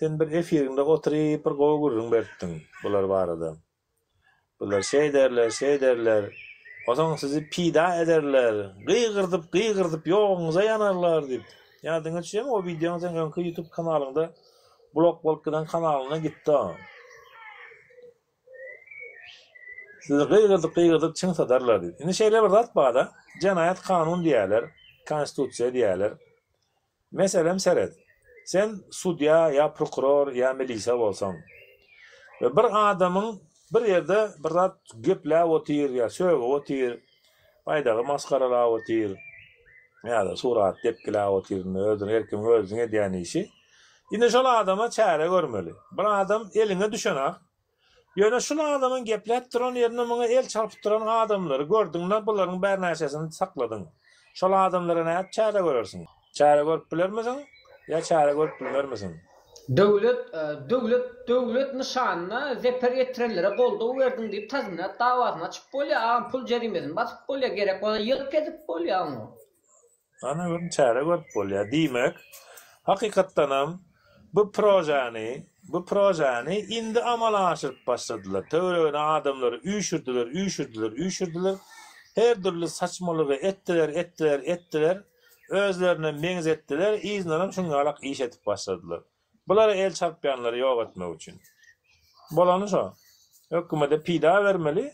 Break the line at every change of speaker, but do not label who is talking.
Sen bir efiriňde oturyp bir gowy gürrüň beripdiň bular barada. Bular şeýderler, şeýderler. Onsoň sizi pida ederler. Gygyrdyp, gygyrdyp ýoguňyza ýanarlar diýip. Ýa diňe düşýämi o wideoň seň öňki ýutub kanalyňda blok bolup giden kanalyňdan gitdi o. Sizi gygyrdyp, gygyrdyp çyn sadarlar diýip. Indi şeýle bir zat bada, jenaýat kanun diýerler, konstitusiýa diýerler. Meselem seret, sen sudýa ýa prokuror ýa milisiýa bolsaň we bir adamyň bir ýerde bir zat gepläp otyr ýa sögüp otyr, baýdagy masgaralap otyr ýa-da surat depgiläp otyr, indi özüniň erkimiň özüniň edýän işi. Indi şol adama çäre görmeli. Bir adam eliňe düşen-ak, Ýöne şul adamyň gepläp duran ýerinde muňa el çarpyp duran adamlary gördüňde bularyň bärnäçesini sakladyň. Şol adamlara nädip çäre görersiň? Çäre görüp bilermisiň? Ýa çäre görüp bilmermisiň? Döwlet, döwlet,
döwlet nyşanyna zeper ýetirenlere goldaw berdiň diýip tazminat dawasyny açyp bolýar agam pul jerimesini basyp bolýar gerek bolsa ýylk edip bolýar oňa. Ana
bir çäre görüp bolýar. Diýmek, hakykatdanam bu projany, bu projany indi amala aşyryp başladylar. Töweregine adamlary üýşürdiler, üýşürdiler, üýşürdiler. Her dürli saçmalygy etdiler, etdiler, etdiler. Özlerine meňzetdiler, yzyndanam şuň ýalak iş edip başladylar. Bulara el çarpýanlary ýok etmek üçin. Bolany şo. Hökümede pida bermeli.